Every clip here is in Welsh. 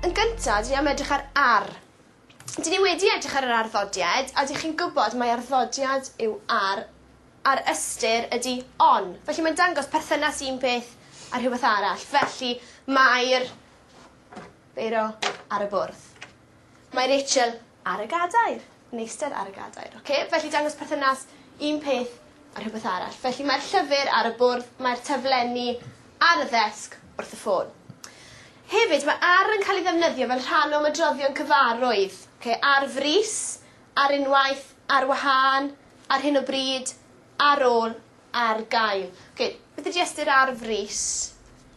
Yn gynta' dwi am edrych ar ar. Dyn ni wedi edrych ar yr arddodiad a dych chi'n gwbod mae arddodiad yw ar a'r ystyr ydi on. Felly mae'n dangos perthynas un peth a rhywbeth arall felly mae'r beiro ar y bwrdd. Mae Rachel ar y gadair. Meistr ar y gadair. Oce? Felly dangos perthynas un peth a rhywbeth arall. Felly mae'r llyfr ar y bwrdd, mae'r taflenni ar y ddesg wrth y ffôn. Hefyd, mae ar yn cael ei ddefnyddio fel rhan o ymedroddion cyfarwydd. Okay? Ar frys, ar unwaith, ar wahân, ar hyn o bryd, Ar ôl, ar gael. Oce, beth ydi ystyr ar frys?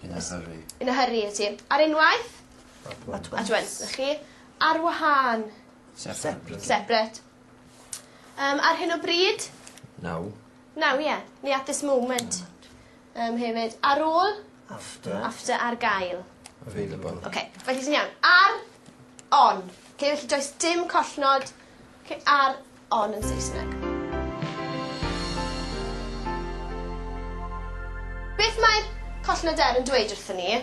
In a hurry. In a hurry, 'na ti. Ar unwaith? At once. At once, 'na chi. Ar wahân? Separate. Separate. Yym ar hyn o bryd? Now. Now, ie. Neu at this moment. Yym hefyd. Ar ôl? After. After, ar gael. Available. Oce, felly ti'n iawn. Ar, on. Oce, felly does dim collnod. Oce, ar on yn Saesneg. Beth mae'r collnadr yn dweud wrthon ni?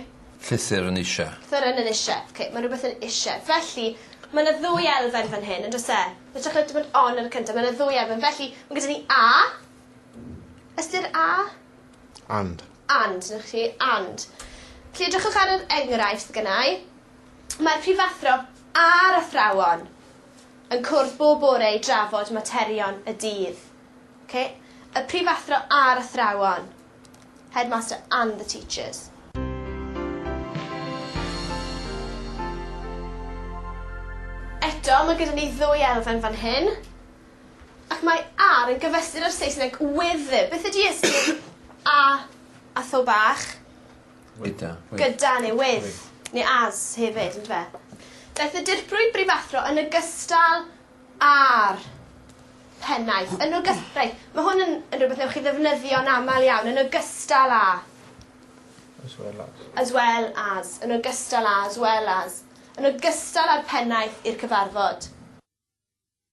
Llythyr yn ishe. Llythyr yn yn ishe. Oce, mae rhywbeth yn ishe. Felly, mae 'na ddwy elfen fan hyn, yn does e? Ytrach na dim ond on ar y cyntaf, mae 'na ddwy elfen. Felly, mae gyda ni a. Ystyr a? And. And, na chi, and. Felly, edrychwch ar yr enghraifft gynnau. Mae'r prifathro a'r athrawon. yn cwrdd bob bore i drafod materion y dydd. Ok? Y prifathro a'r athrawon. Headmaster and the teachers. Eto, mae gyda ni ddwy elfen fan hyn. Ac mae ar yn gyfystyr â'r Saesneg with. Beth ydy ystyr a a tho bach? Wydda. With. Gyda neu with. Neu as hefyd on'd yfe? Daeth y dirprwy brifathro yn ogystal â'r pennaeth. Yn ogys- reit ma' hwn yn yn rwbeth newch chi ddefnyddio'n amal iawn yn ogystal â. As well as. As well as. Yn ogystal â as well as. Yn ogystal â'r pennaeth i'r cyfarfod.